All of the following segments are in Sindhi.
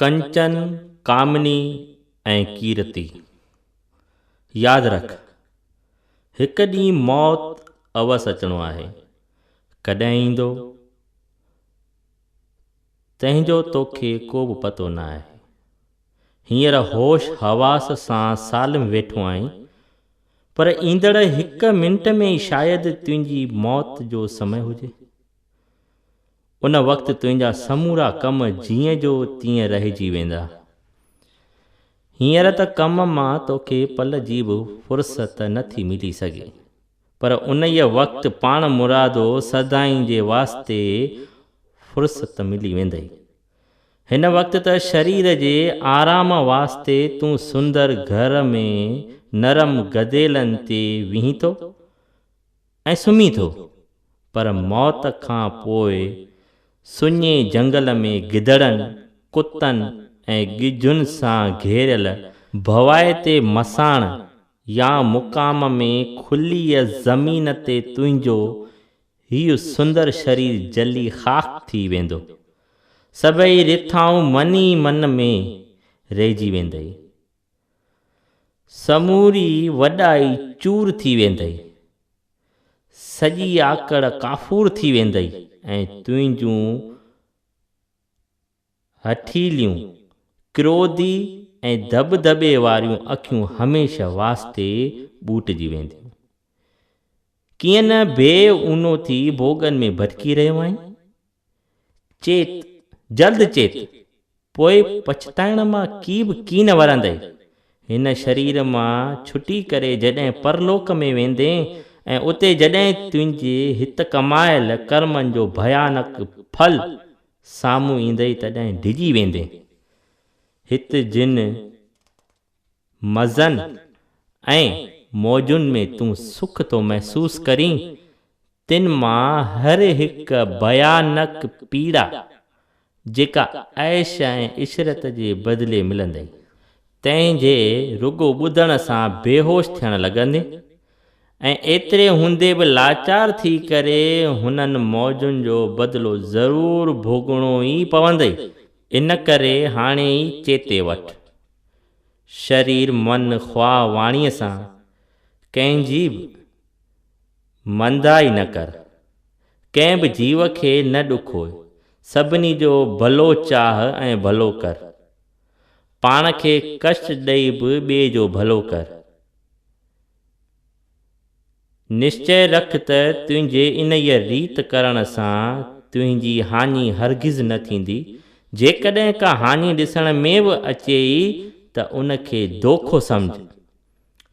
ڪنچن، ڪامني ۽ ڪيرتي. ياد رک، هڪ ڏينهن موت اوس اچڻو آهي. ڪڏهن ايندو، تنهن جو توکي ڪو به پتو نه آهي. هينئر هوش حواس سان سالم ويٺو آهين، پر ايندڙ هڪ منٽ ۾ ئي شايد تنهنجي موت جو سمي هجي. ان وقت تنهنجا سمورا ڪم جيئن جو تيئن رهجي ويندا. هينئر ته ڪم مان توکي پل جي به فرصت نه ٿي ملي سگهي، پر انهيء وقت پاڻ مرادو سدائين جي واسطي فرصت ملي ويندئي. هن وقت ته شرير جي آرام واسطي تون سندر گهر ۾ نرم گديلن تي ويهين ٿو. ۽ سمهي ٿو، پر موت کان پوء سڃي جهنگل ۾ گدڙن، ڪتن ۽ ڳجهن سان گهيريل ڀوائتي مساڻ يا مقام ۾ کليء زمين تي تنهنجو هيء سندر شرير جلي خاڪ ٿي ويندو. سڀئي رٿائون من ئي من ۾ رهجي ويندئي. سموري وڏائي چور ٿي ويندئي، سڄي آڪڙ ڪافور ٿي ويندئي ۽ تنهنجون هٺيليون، ڪروڌي ۽ ڌٻڌٻي واريون اکيون هميشه واسطي ٻوٽجي وينديون. ڪيئن نه بي اونو ٿي ڀوڳن ۾ ڀٽڪي رهيو آهين؟ چيت، جلد چيت، پوء پڇتائڻ مان ڪي به ڪين ورندئي. هن شرير مان ڇٽي ڪري جڏهن پرلوڪ ۾ ويندين ۽ اتي جڏهن تنهنجي هت ڪمايل ڪرمن جو ڀيانڪ ڦل سامهون ايندئي تڏهن ڊڄي ويندين. هت جن. مزن ۽ موجن ۾ تون سک ٿو محسوس ڪرين، تن مان هر هڪ ڀيانڪ پيڙا، جيڪا عيش ۽ عشرت جي بدلي ملندئي، تنهن جي رڳو ٻڌڻ سان بيهوش ٿيڻ لڳندين ۽ ايتري هوندي به لاچار ٿي ڪري هنن موجن جو بدلو ضرور ڀوڳڻو ئي پوندئي، ان ڪري هاڻي ئي چيتي وٺ. شرير من خواه واڻيء سان ڪنهن جي به مندائي نه ڪر، ڪنهن به جيو کي نه ڏکوء، سڀني جو ڀلو چاهه ۽ ڀلو ڪر. پاڻ کي ڪشٽ ڏئي به ٻئي جو ڀلو ڪر. نشچئه رک ته تنهنجي انهيء ريت ڪرڻ سان تنهنجي هاڃي هرگز نه ٿيندي. جيڪڏهن ڪا هاڃي ڏسڻ ۾ به اچي ئي ته ان کي دوکو سمجهه،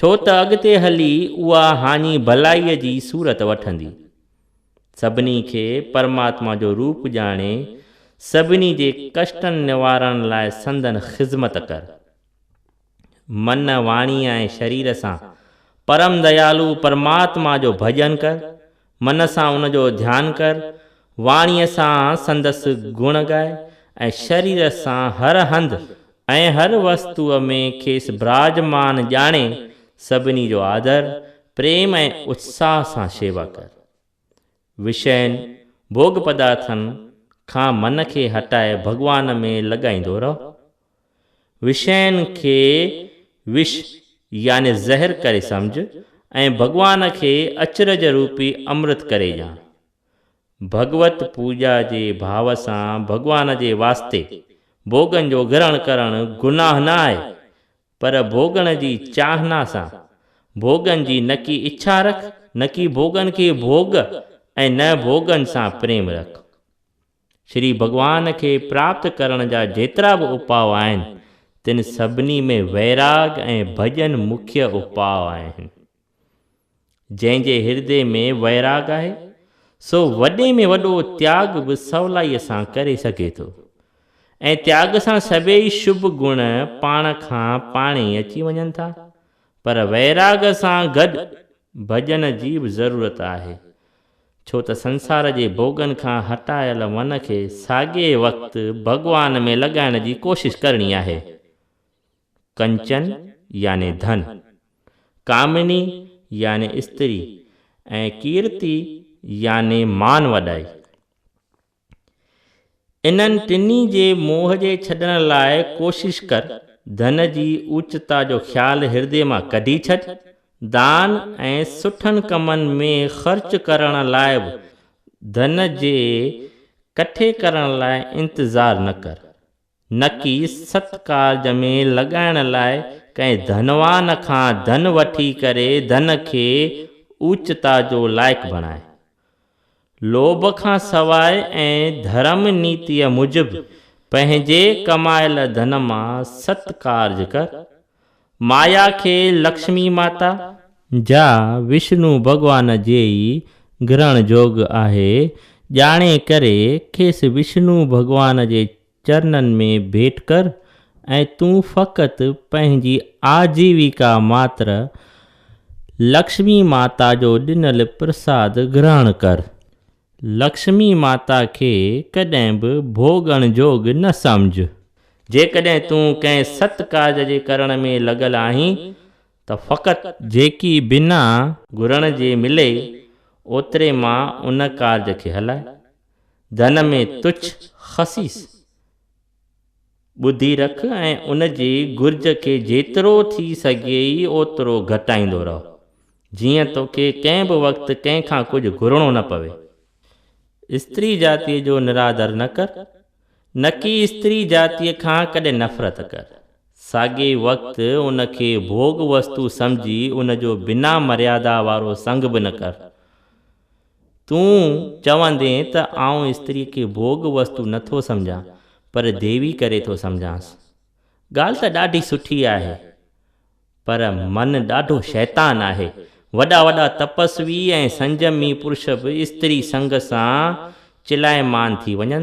ڇو ته اڳتي هلي اها هاڃي ڀلائيء جي صورت وٺندي. سڀني کي پرماتما جو روپ ڄاڻي، سڀني جي ڪشٽن نوارڻ لاء سندن خذمت ڪر. من، واڻيء ۽ شرير سان پرم ديالو پرماتما جو ڀڄن ڪر، من سان ان جو ڌيان ڪر، واڻيء سان سندس گڻ ڳاء ۽ شرير سان هر هنڌ ۽ هر وستوء ۾ کيس براجمان ڄاڻي سڀني جو آدر، پريم ۽ اتساهه سان شيوا ڪر. وشين، ڀوڳ پدارٿن، کان من کي هٽائي ڀڳوان ۾ لڳائيندو رهه. وشين کي وش يعني زهر ڪري سمجهه ۽ ڀڳوان کي اچرج روپي امرت ڪري ڄاڻ. ڀڳوت پوڄا جي ڀاو سان ڀڳوان جي واسطي ڀوڳن جو گرهڻ ڪرڻ گناهه نه آهي، پر ڀوڳڻ جي چاهنا سان ڀوڳن جي نڪي اڇا رک، نڪي ڀوڳن کي ڀوڳ ۽ نه ڀوڳن سان پريم رک. شري ڀڳوان کي پراپت ڪرڻ جا جيترا به اپاء آهن، تن سڀني ۾ ويراڳ ۽ ڀڄن مکيه اپاء آهن. جنهن جي هردي ۾ ويراڳ آهي، سو وڏي ۾ وڏو تياڳ به سولائيء سان ڪري سگهي ٿو ۽ تياڳ سان سڀيئي شڀ گڻ پاڻ کان پاڻ ئي اچي وڃن ٿا. پر ويراڳ سان گڏ ڀڄن جي به ضرورت آهي، ڇو ته سنسار جي ڀوڳن کان هٽايل من کي ساڳئي وقت ڀڳوان ۾ لڳائڻ جي ڪوشش ڪرڻي آهي. ڪنچن يعني ڌن، ڪامني يعني استري ۽ ڪيرتي يعني مان وڏائي. انهن ٽنهي جي موهه جي ڇڏڻ لاء ڪوشش ڪر، ڌن جي اوچتا جو خيال هردي مان ڪڍي ڇڏ، دان ۽ سٺن ڪمن ۾ خرچ ڪرڻ لاء به ڌن جي ڪٺي ڪرڻ لاء انتظار نه ڪر، نڪي ست ڪارج ۾ لڳائڻ لاء ڪنهن ڌنوان کان ڌن وٺي ڪري ڌن کي اوچتا جو لائق بڻائي. لوڀ کان سواء ۽ ڌرم نيتيء موجب پنهنجي ڪمايل ڌن مان ست ڪارج ڪر. مايا کي لڪشمي ماتا، جا وشنو ڀڳوان جي ئي گرهڻ جوڳ آهي، ڄاڻي ڪري کيس وشنو ڀڳوان جي چرنن ۾ ڀيٽ ڪر ۽ تون فقط پنهنجي آجيويڪا ماتر لڪشمي ماتا جو ڏنل پرساد گرهڻ ڪر. لڪشمي ماتا کي ڪڏهن به ڀوڳڻ جوڳ نه سمجهه. جيڪڏهن تون ڪنهن ست ڪارج جي ڪرڻ ۾ لڳل آهين ته فقط. جيڪي بنا. گهرڻ جي ملي، اوتري مان ان ڪارج کي هلائي. ڌن ۾ تڇ، خسيس، ٻڌي رک ۽ ان جي گهرج کي جيترو ٿي سگهيئي اوترو گهٽائيندو رهه، جيئن توکي ڪنهن به وقت ڪنهن کان ڪجهه گهرڻو نه پوي. استري جاتيء جو نرادر نه ڪر، نڪي استري جاتيء کان ڪڏهن نفرت ڪر. ساڳئي وقت ان کي ڀوڳ وستو سمجهي ان جو بنا مريادا وارو سنگ به نه ڪر. تون چوندين ته آئون استريء کي ڀوڳ وستو نه ٿو سمجهان، پر ديوي ڪري ٿو سمجهانس. ڳالهه ته ڏاڍي سٺي آهي، پر من ڏاڍو شيطان آهي. وڏا وڏا تپسوي ۽ سنجمي پرش به استري سنگ سان چلائمان ٿي وڃن ٿا.